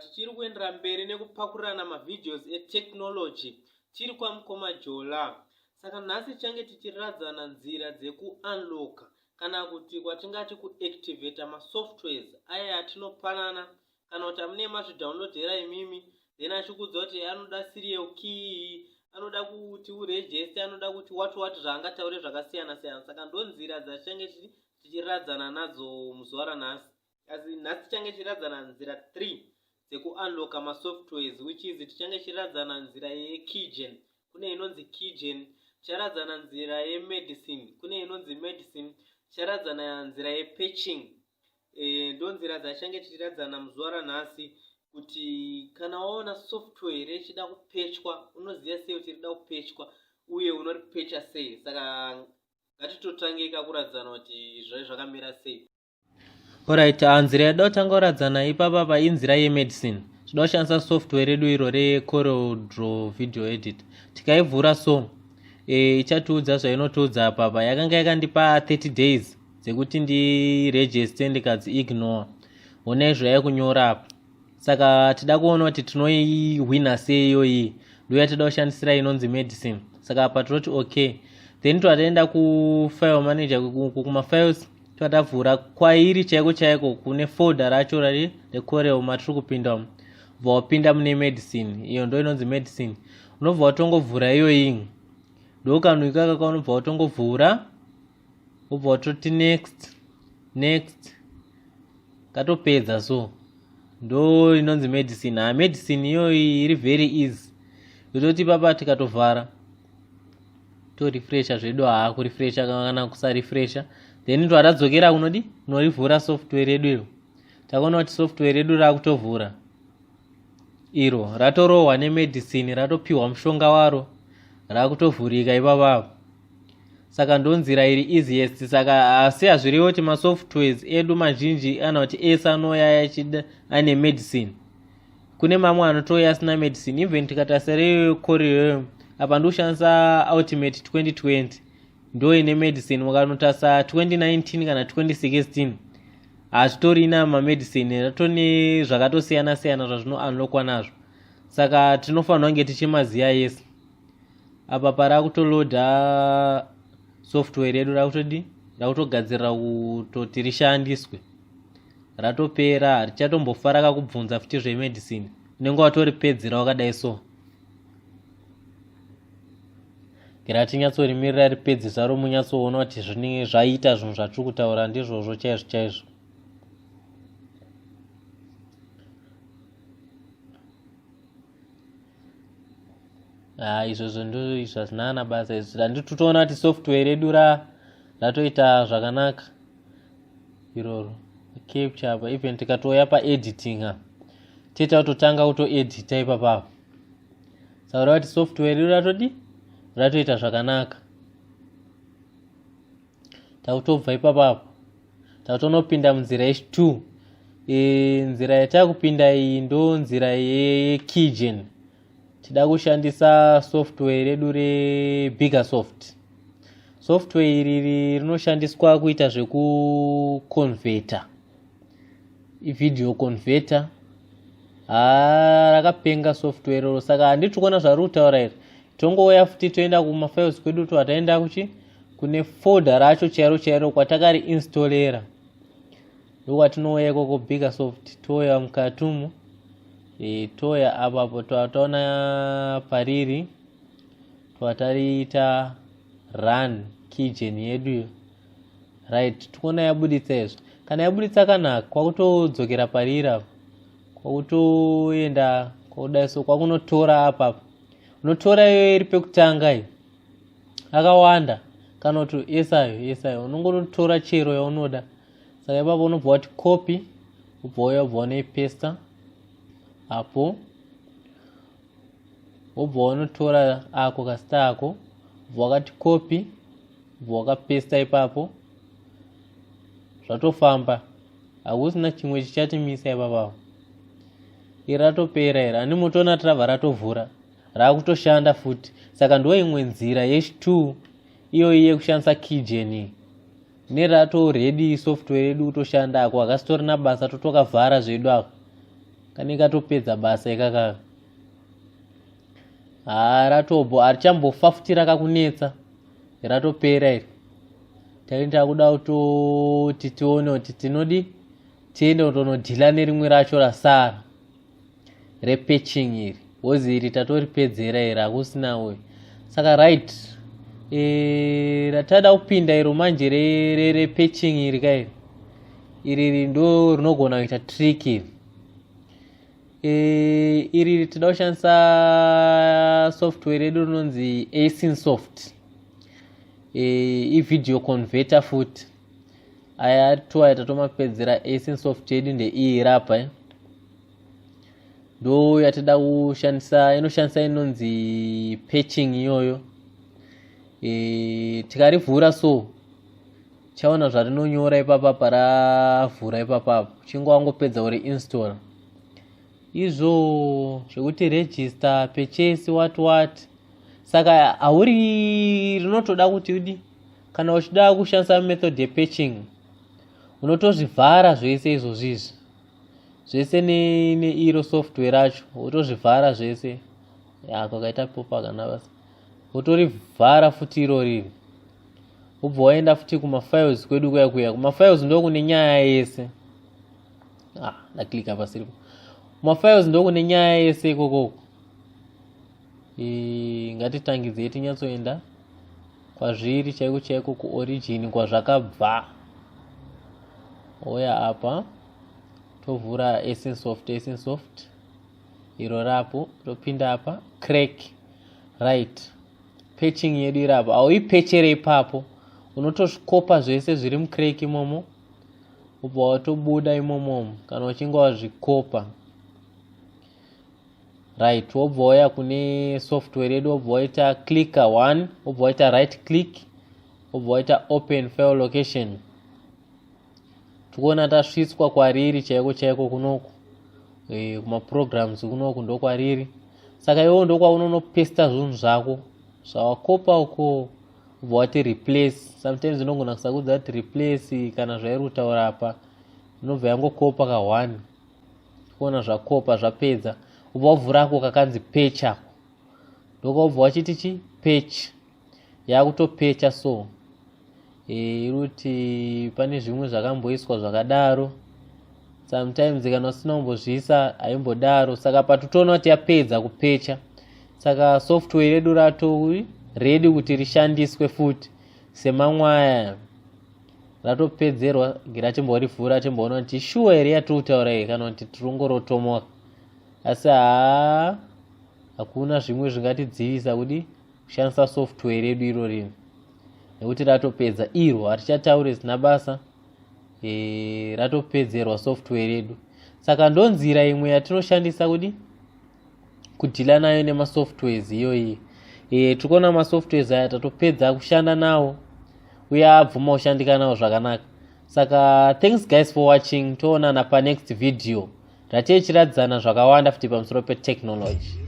tichiri kuendera mberi nekupakurirana mavideos etechnology tiri kwamukoma jola saka nhasi tichange tichiradzana nzira dzekuunloka kana kuti kwatingati kuactivata masoftwares aya atinopanana kana kuti amune mazvidownloadera imimi then achikudza kuti anoda serial key anoda kuti uregist anoda kuti wat wat zvaangataure zvakasiyana siyana saka ndo nzira dzatitange tichiradzana nadzo muzuva ranhasi asi nhasi tichange tichiradzana nzira three dzekuunlocka masoftwares which is tichange tichiradzana nzira yekigen kune inonzi kigen ticharadzana nzira yemedicine kune inonzi medicine ticharadzana nzira yepatching e, ndonzira dzachange chichiradzana muzuva ranhasi kuti kana waona software rechida kupechwa unoziva sei kuti rida kupechwa uye unoripecha sei saka ngatitotangei kakuradzana kuti zvave zvakamira sei orit ah, nzira yada kutanga kuradzana ipapa pa inzira yemedicine tinoda kushandisa software redu iro recorodro video edit tikaivhura so e, ichatiudza zvainotiudza apapa yakanga yakandipa 30 days dzekuti ndiregister ndikadzi ignore hona izvo yave kunyora apa saka tida kuona kuti tinoihwina sei iyoyi ndoya tida kushandisira inonzi medicine saka apa tinoti okay then twataenda kufile manager kumafiles twatavhura kwairi chaiko chaiko kune folder racho rari recorel matiri kupinda umu bva wapinda mune medicine iyo ndo inonzi medicine unobva watongovhura iyoyi ndokanoikaka kaunobva watongovhura wobva watoti next next katopedza so ndo inonzi medicine ha medicine iyoyi iri very easy zototi papa tikatovhara torefresha zvedu haa kurefresha kana kusarefresha then to atadzokera kunodi kunorivhura software redu iro takaona kuti software redu rakutovhura iro ratorohwa nemedicine ratopiwa mushonga waro rakutovhurika ipapavo saka ndonzira iri easiest saka asi hazviriwo kuti masoftwares edu mazhinji ana kuti ese anouya achida ane medicine kune mamwe anotouya asina medicine even tikatarisa rekoreo apa ndikushandisa ultimate 2020 ndo ine medicine mukanotarisa 2019 kana 2016 hazvitorina mamedicine ratone zvakatosiyana siyana zvazvinounlokwa nazvo saka tinofanirwa kunge tichimaziva yese apa parakutoloda software redu rakutodi rakutogadzirira kutoti rishandiswe ratopera harichatombofa rakakubvunza futi zvemedicine unenge watoripedzera wakadai so ngeratinyatsorimirira ripedze zaro munyatsoona kuti zvinenge zvaita zvinhu zvatiri kutaura ndizvozvo chaizvo chaizvo ha ah, izvozvo ndoizvo hazvina kana basa izvo handitotoona kuti software redu ra ratoita zvakanaka iroro capture apa even tikatouya paediting a tiita kutotanga kutoedita ipapapa saura kuti software redu ratodi ratoita zvakanaka takutobva ipapo apo takutonopinda munzira yechi two e, nzira yatakupinda iyi ndo nzira yekigen tida kushandisa software redu rebigger soft software iri rinoshandiswa kuita zvekuconveta ivideo conveta haa rakapenga software roro saka handiti kuona zvarikutaura iri tongouya futi toenda kumafiles kwedu to ataenda kuchi kune folder racho chairo chairo kwatakari installera ndokwatinouya ikoko bigger soft touya mukati umu e, touya apapo twataona pariri twatariita run keygen yeduyo right tikuona yabuditsa izvo kana yabuditsa kanaka kwakutodzokera pariri apo kwakutoenda kwakudai so kwakunotora apapa unotora iyoyo iri pekutanga iyi akawanda kana kuti esayo esayo unongotora chero yaunoda saka ipapo unobva wati copy ubva uya ubva unoipesta apo wobva wanotora ako kasita ako ubva wakati copy ubva wakapesta ipapo zvatofamba hakusina chimwe chichatimisa ipapapo iri ratopera iri ani motoona trava ratovhura raakutoshanda futi saka ndo imwe nzira yesh t iyoyi yekushandisa keygen nerato redi software yedu kutoshanda ako akasitorina basa totokavhara zvedu ako kane katopedza basa ikaka haa ratobho harichambofa futi rakakunetsa ratopera iri taita kuda kutoti tione kuti tinodi tiende kutonodhila nerimwe racho rasara repatching iri wozi iri tatoripedzera iri hakusina we saka right e, ratada kupinda iro manje repatching re, re, iri kairi iri ri ndo rinogona kuita trick iri e, iri ri tida kushandisa software redu rinonzi asin soft e, ivideo converter futi aya toaya tatomapedzera asin soft yedu ndeiyi rapa eh? ndo yatida kushandisa inoshandisa inonzi patching iyoyo e, tikarivhura so chaona zvarinonyora ipapa paravhura ipapapa uchinge wangopedza uri install izvo zvekuti register purchase what what saka hauri rinotoda kuti udi kana uchida kushandisa method yepatching unotozvivhara zvese izvozvizvi zvese neiro ne software racho wotozvivhara zvese ya kwakaita kupopa kana basa wotorivhara futi iro riri wobva waenda futi kumafiles kwedu kuya kuya kumafiles ndokune nyaya yese ah ndaklika pasiripo kumafiles ndokune nyaya yese ikokoko ngatitangidzei tinyatsoenda kwazviri chaiko chaiko kuorigin kwazvakabva oya apa tovhura esinsoft esinsoft iro rapo topinda apa crack right patching yedu iri apa auipechere ipapo unotokopa zvese zviri mucrack imomo ubva watobuda imomomo kana uchinge wazvikopa right wobva wauya kune software yedu wobva waita clicker one wobva waita right click wobva waita open file location tikuona tasvitswa kwariri chaiko chaiko kunoku e, kumaprograms kunoku ndokwariri saka iwewo ndokwaunonopesta zvinhu zvako zvawakopa uko ubva wati replace sometimes inogona kusakudza kuti replace kana zvairi kutaura apa inobva yangokopa ka one kuona zvakopa zvapedza ubva wavhurako kakanzi pech ako ndokwaubva wachiti chi pech yakutopecha so e, iri kuti pane zvimwe zvakamboiswa zvakadaro sometimes kana usina kumbozviisa haimbodaro saka patotoona kuti yapedza kupecha saka software redu rato redi kuti rishandiswe futi semamwaya ratopedzerwa gira achimborivhura achimboona kuti shuwa here yatiri kutaura iyi kana kuti tiri kungorotomoka asi haa hakuna zvimwe zvingatidzivisa kudi kushandisa software redu iro rino nekuti ratopedza iro hatichataure zina basa e, ratopedzerwa software redu saka ndonzira imwe yatinoshandisa kudi kudhila nayo nemasoftwares iyoyi e, eh, tiri kuona masoftwares aya tatopedza kushanda nawo uye abvuma kushandika nawo zvakanaka saka thanks guys for watching toonana panext video ratei chiradzana zvakawanda futi pamusoro petechnology